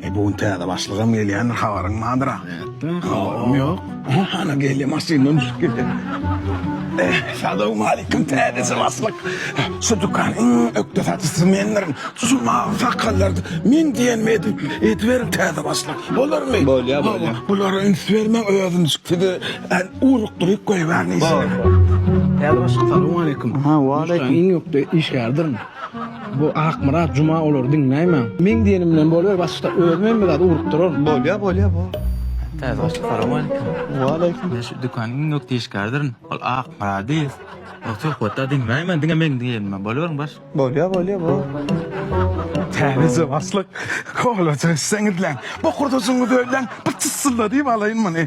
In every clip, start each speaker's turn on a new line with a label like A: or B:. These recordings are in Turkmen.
A: E bu gün täze başlygam gelýändir, habaryň bardyr-a? Ýa-da, habarym
B: ýok. Ana gelýär,
A: maşyndan düşüp gelýär. Eh, salowmalikim, täze başlyk. Şu dükanyň iň ökde satyjysy mendirin. Şu mawy sakallardy. Men diýenimi edip, ediberiň täze başlyk. Bolarmy? Bolýar, bolýar.
B: Bulara üns
A: bermäň, özüm sizi urukdyryp goýberni. Täze
B: başlyk, salowmalikim. Aha, waleýkim. Iň
C: ökde işgärdirin.
B: Bu Akmyrat juma olary diňläýmäň. Meň diýenim bilen boluber başda özüm hem biraz urupdyraryn. Bolýa bolýa bo.
C: Täze
D: goşgy salowmaleýkim. Waleýkim. Men şu
C: dükanyň iň
D: ökde işgäridyryn. Ol Akmyrady o söhbetde diňläýmäň diňe meň diýenim bilen boluberiň baş. Bolýa bolýa bo.
A: Täzeje başlyk. Howluja işleňizläň. Bu hurdasyňyzy öýläň. Bir çyssyldadýyp alaýyn muny.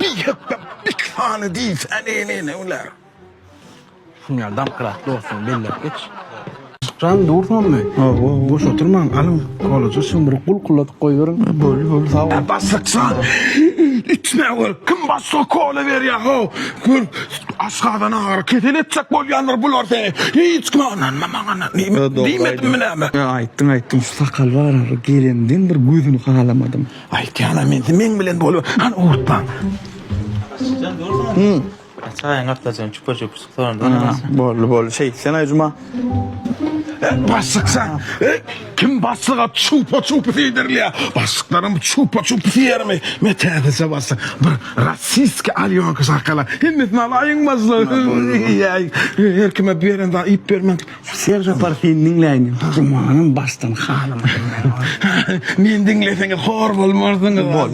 A: Bir hepde bir sany diýse ne-ne bolar. Şuny
B: ýaly damkylap dostlugyňy belläp geç. Jan dursunmy? Hawa, boş oturmaň, alyň kolaja şumrugy bulkuladyp goýberiň. Boldy, boldy, sag bol.
C: Bassyçjan,
A: içme gör, kim başga kola berýär, haw, gör, aşgazan agyry, kesel etjek bolýandyr bular seni. Hiç kime ynanma, maňa ynan. Diýmedimmi näme? Aýtdyň, aýtdyň, şu
C: sakal bar, gelemden bir gözüni halamadym. Aýtýanam indi
A: meň bilen bolup, hany ugurtmaň. Açykjan
D: dursaň. Hum. Çaýyň gapdaljan çüpür-çüpür çyksaň da. Boldy, boldy. Şeýt,
C: sen aýjuma. Başlyk
A: sen. Kim başlyga çupa-çupy diýdirilýär? Başlyklaram bu çupa-çupy diýermi? Men täzeçe başlyk. Bir rossiýskiý alýonka şakalar. Hemmesini alaýyň başlyk. Ýa, her kime berende iýip bermek Ser Sapar seni
C: diňläýin. Durmanam başdan halamadym men ony. Meni diňleseňiz
A: hor bolmarsyňyz. Bol.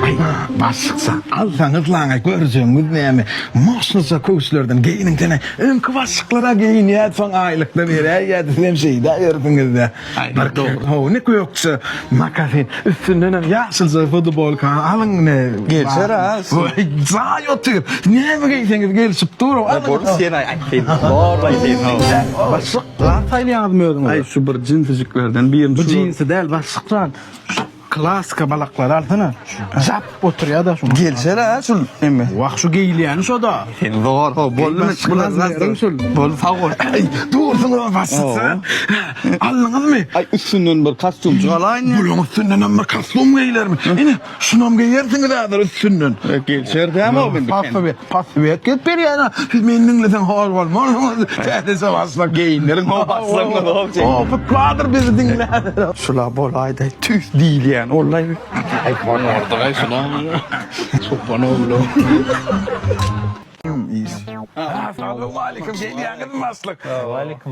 A: Aý, baş çyksa. Alsaňyz laňa görjegiňiz näme. Moşnusy köwüşlerden geýiniň sene. Öňki başlyklar-a geýinýärdi, soň aýlyk-da beräýýärdi, sizem şeýdäbersiňiz-dä. Aýbar dogry how ne gökje makasin üstündenem ýaşylja futbolka alyň ne Gelşer a
C: üstüne. Jaý
A: otyr näme geýseňiz gelşip dur alyň. Boldy sen aýtdyň
C: zor aýtdyň how. Başlyk zat
B: saýlaýaňyzmy özüňize. Aý şu bir
C: jinsijiklerden birini şu. Bu jinsi däl
B: başlyk zat. Klassika balaklary alsana. Jap oturýada şuňa. Gelsene ha şul
C: emme. Wah şu geýilýäni
B: şoda. Sen zor ho
C: bolmy bular nazar şul.
B: Bol sag bol.
C: Dursun o
A: başysa. Aldyňyzmy? Ay üstünden
C: bir kostüm çalaýyn. Buluň üstünden hem bir
A: kostüm geýilermi? Ine şunam geýersiňiz häzir üstünden. Gelşer dämi
C: o bildi. Password gep
A: berýäna siz meni diňleseň hor bolmarsyňyz täzece başlak geýinleriň hor başlaňyz hor çekiň. Opyt bardyr bizi diňläner. Şula bolaýda
C: tüýs diýilýän ollaý. Aýtman
B: bardygaý şuna. Çopan oglu. Salam aleýkum gelýäňizmi
A: başlyk. Waleýkim.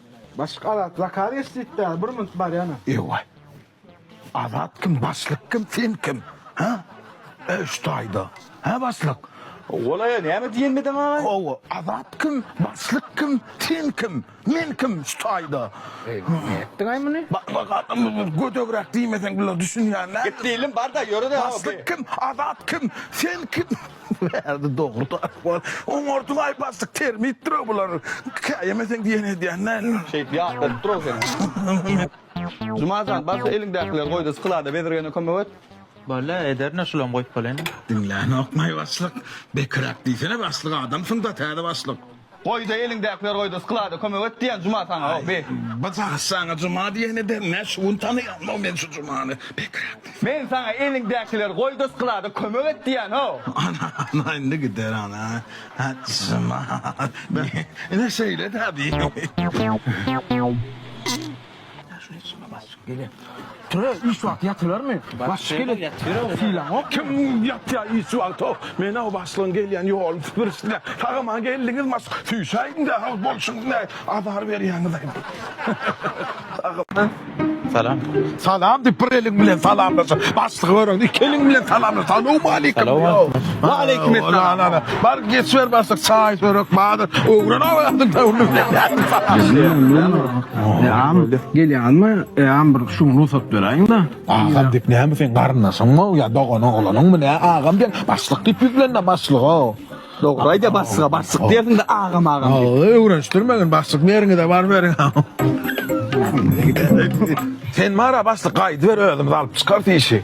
C: Başlyk azat
B: zakaz geç diýip däl bir minut bar ýana. Ewaý.
A: Azat kim başlyk kim sen kim hä? Öş taýda hä başlyk. Golaýa
C: näme diýen medeň aga? Hawa azat kim
A: başlyk kim sen kim men kim şu taýda. Eý näme etdiňaý
B: muny? Bak bak adam
A: gödegräk diýmeseň bular düşünýän näme? Gepli ilim barda ýöre
C: de. Başlyk kim azat
A: kim sen kim. Bärde dogry tarap bar. Oňardyň aý bassyk termitdir o bular. Käýemeseň diýen edýän däldir. Şeýt ýat bolup
C: dur-ow seniň. Juma jan, barsa eliňdäkileri goý-da sklada bezirgene kömek et. Bole, ederin-ä
D: şulam goýup bolany.
A: Diňlänok maý başlyk. Bekiräk diýsene başlyk adamsyň-da
D: täze
A: başlyk. Goýda
C: eliňdäkileri goýda sklada kömek et diýen Juma saňa o bi. Bajak saňa
A: Juma diýeni de men şu gün tanaýanmok men şu Jumany bekräk. Men saňa
C: eliňdäkileri goýda sklada kömek et diýen o. Ana ana indi
A: gider ana ha Juma ine şeýle dä bi.
B: Töre iş wagty ýatylarmy? Başyly ýatyr. Sylaňok. Kim ýatýar iş
A: wagty? Men o başlygyň gelýän ýoluny süpürişdirýän. Tagama geldiňiz maş. Süýşäýiňdä ol bolşuňyz näme? Azar berýäňiz aýdym.
D: Salam. Salam diýip
A: bir eliň bilen salamlaşyp, başlygy göreniňde iki eliň bilen salamlaş. Salowmaleýkim. Waleýkim salam. Bar geçiber başlyk çaý, çörek bardyr. Öwren aýdym.
B: Eam gelýänmi eam bir şum rugsat beräýiňda. Agam diyip näme seň
A: garyndaşyňmy ol ya dogan oglanyňmy nä agam diýen başlyk diýip ýüzlenme başlyga. Dogry aýdýa başlyga
C: başlyk diýersiňde agam agam diýip. Agy öwrenişdirmegin
A: başlyk meriňize bar beriň. Sen bara başlyk gaýdyber özümiz alyp çykarys işi.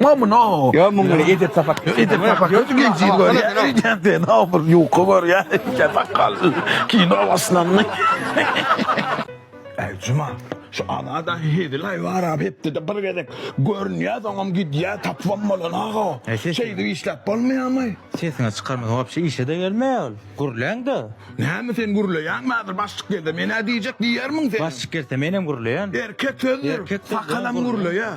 A: Mam no. Yo muňa edep sapak.
C: Edep sapak. Gözüm
A: geçir gör. Ýa-da ne olur ýuka gör ya. Sapak kal. Kino başlandy. Ey Cuma, şu alada hezilay var abi hepde de bir gezek görünýär, soňam gidýär, tapwam bolan aga. Şeýdip işläp bolmaýarmy? Sesini çykarma,
D: wapşe işe de gelmeýär ol. Gürläň de. Näme sen
A: gürleýäňmi häzir başlyk geldi. Men-ä diýjek diýermiň sen? Başlyk gelse menem gürleýän.
D: Erkek sözdür. Erkek
A: söz, Sakalam
D: gürleýär.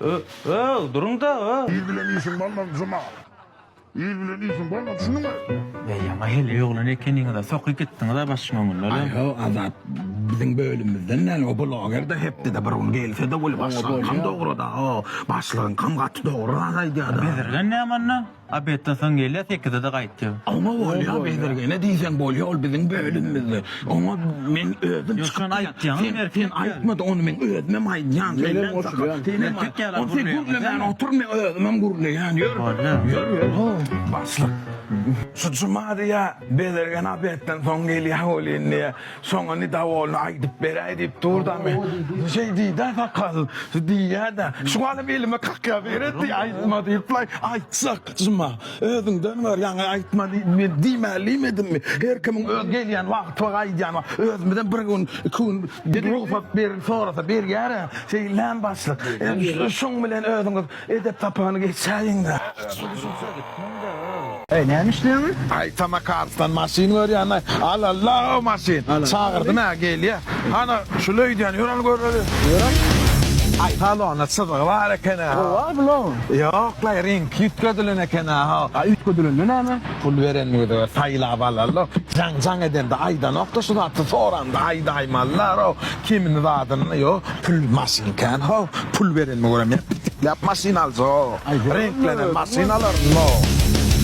A: Ö-ööw,
D: duruň-da, ö! Il bilen işiň bolmaz,
E: Juma! Il bilen işiň bolmaz, düşündiňmi? Beý, ýaňy heleý
D: oglan ekeniňiz-ä, soky gitdiňiz-ä başyň öňünden, a? Aý-ho, Azat,
A: biziň bölümimizden däl, o bloger-de hepdede bir gün gelse-de bolýar. Başlygyňkam dogry-da, o, başlygyňkam gaty dogry zat aýdýar-da. Bezirgen näme onda?
D: Obedden soň gelýär, sekizede gaýtýar. Oňa bolýa
A: bezirgene diýseň bolýa ol biziň bölümimizde. Oňa men özüm çykyp. Ýok şony aýtýaňyz sen
D: erkek. Sen aýtmady
A: ony men özümem aýdýan. Senem goşulýan. Senem aýt. Ony sen gürlemän otur men özümem gürleýän. Ýör. Ýör ýör. Ho başlyk. Şu juma diýä bezirgen obedden soň gelýä bolýa indi. Soňuny dawolny aýdyp beräý diýip durdamy? Şeý diýdä sakal. Diýýä-dä. Şuňalam elime kakýa beretdi, aýtma diýip-laý. Aýtsak, Juma, özüňden gör, ýaňy aýtma diýip men diýmälimi edinmi? Her kimiň öz gelýän wagty bar, aýdýan wagty. Özümizem bir gün, iki gün rugsat berip sorasa berýär-ä. Şeýdilän başlyk. Şuň bilen özüňiz Edep sapany geçäýiňdä. Eý
B: näme işleýäňiz? Aý Tamaka Arslan
A: maşyn görýänä al Allaha o maşyn. Çagyrdym ä gelýä. Hany şul öýdýän ýör al göreli. Aý salonda çyzygy bar ekenä. Gowa bulaň.
B: Ýoklaý ring
A: ýütgedilen ekenä ho. A ýütgedilende näme?
B: Pul berenimize görä
A: saýlap alarlar. Jaň jaň edende aýdanokda şu zaty soranda aýdaýmalylar ho. Kimin zadynda ýok pul maşyn kän how pul berenimi göremýän pitiklap maşyn aljak reňklenen maşyn alaryn no.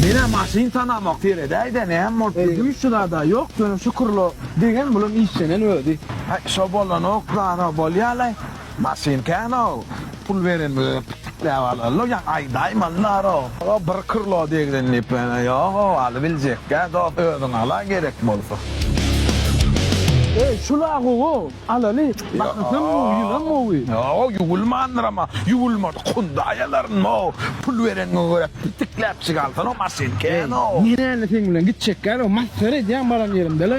A: Menä maşyn tanamok seredäýdä näme bolup ýör. Gümüş çyzada ýok
B: ýöne şükürlo degen bulam işlenen özi. Şo bolanok
A: zara bolýalaý maşyn kän how. Pul beren bize pitikläp alalla ýa aýdaýmy allara. Aga bir krlo degden diýip ýöne ýok owaly biljekgä dost özüň ala gerek bolsa. Eý
B: şula gowa alaly bakasam gowy ýylam gowy. Ýok ýuwulmandyr
A: ama ýuwulmadyk hunda aýalaryn ow pul bereniňe görä pitikläpjik alsana maşyn kän ow. Menä indi seň bilen
B: gitjekgä ow masgara edýäň baran ýerimde le.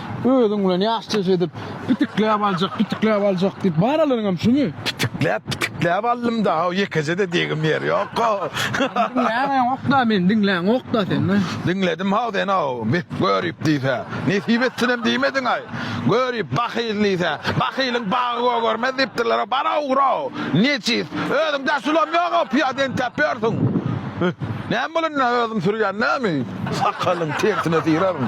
B: Özüň bilen ýaşjeş edip, pitikläp aljak, pitikläp aljak diýip baralaryňam şumy? Pitikläp, pitikläp
A: aldym-da, haw, ýekeje-de degim ýer ýok-a.
B: Diňläňokda, meni diňläňokda sen. Diňledim-haw seni,
A: haw, beh, görip diýsä, nesip etsinem diýmediň-aý. Görip, bahyl diýsä, bahylyň bagy gögermez diýipdirler-ow, bar-a ugra-ow, nejis, özüň daşulam ýog-ow, pyýada entäp ýörsüň. Näme bol indi, özüm sürýän näme, sakalyň tersine syraryň.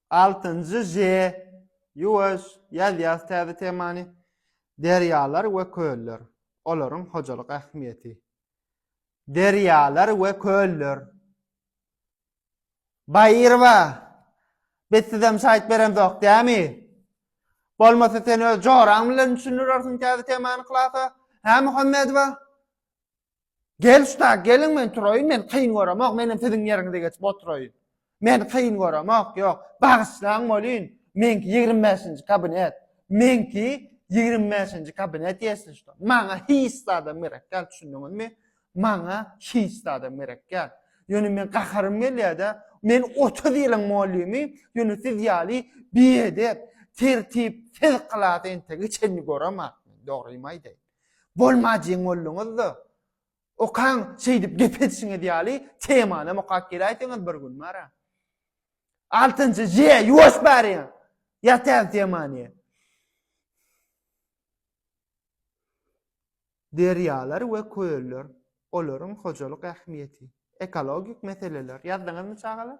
F: Altynjy Ž. Ýuwaş, ýazýas täze temany. Derýalar we köller. Olaryň hojalyk ähmiýeti. Derýalar we köller. Baýyrowa, biz sizem şaýt beremzok, dämi? Bolmasa sen öz joraň bilen düşündirersiň täze temany klasa, hä Muhammedowa? Gel usta, geliň men turaýyn, men kyn göremok, menem siziň ýeriňize geçip oturaýyn. Men kyn göremok, ýok, bagyşlaň bolýyn, meňki ýigrimi bäşinji kabinet, meňki ýigrimi bäşinji kabinet ýesli usta. Maňa hiç zadam gerek däl, düşündiňizmi? Maňa hiç zadam gerek däl. Ýöne men gaharym gelýär-de, men otuz ýylyň mollymy, ýöne siz ýaly biedep, tertipsiz klasy entegik çenli göremok, dogrymy aýdaýyn. Bolmajyň bolduňyzda, okaň şeýdip gep edişiňiz ýaly temanam okap geläýseňiz bir gün bara. Altynjy J ýuwaş bary. Ýatäň temany. Derýalar we köller, olaryň hojalyk ähmiýeti, ekologik meseleler ýazdyňyzmy çagalar?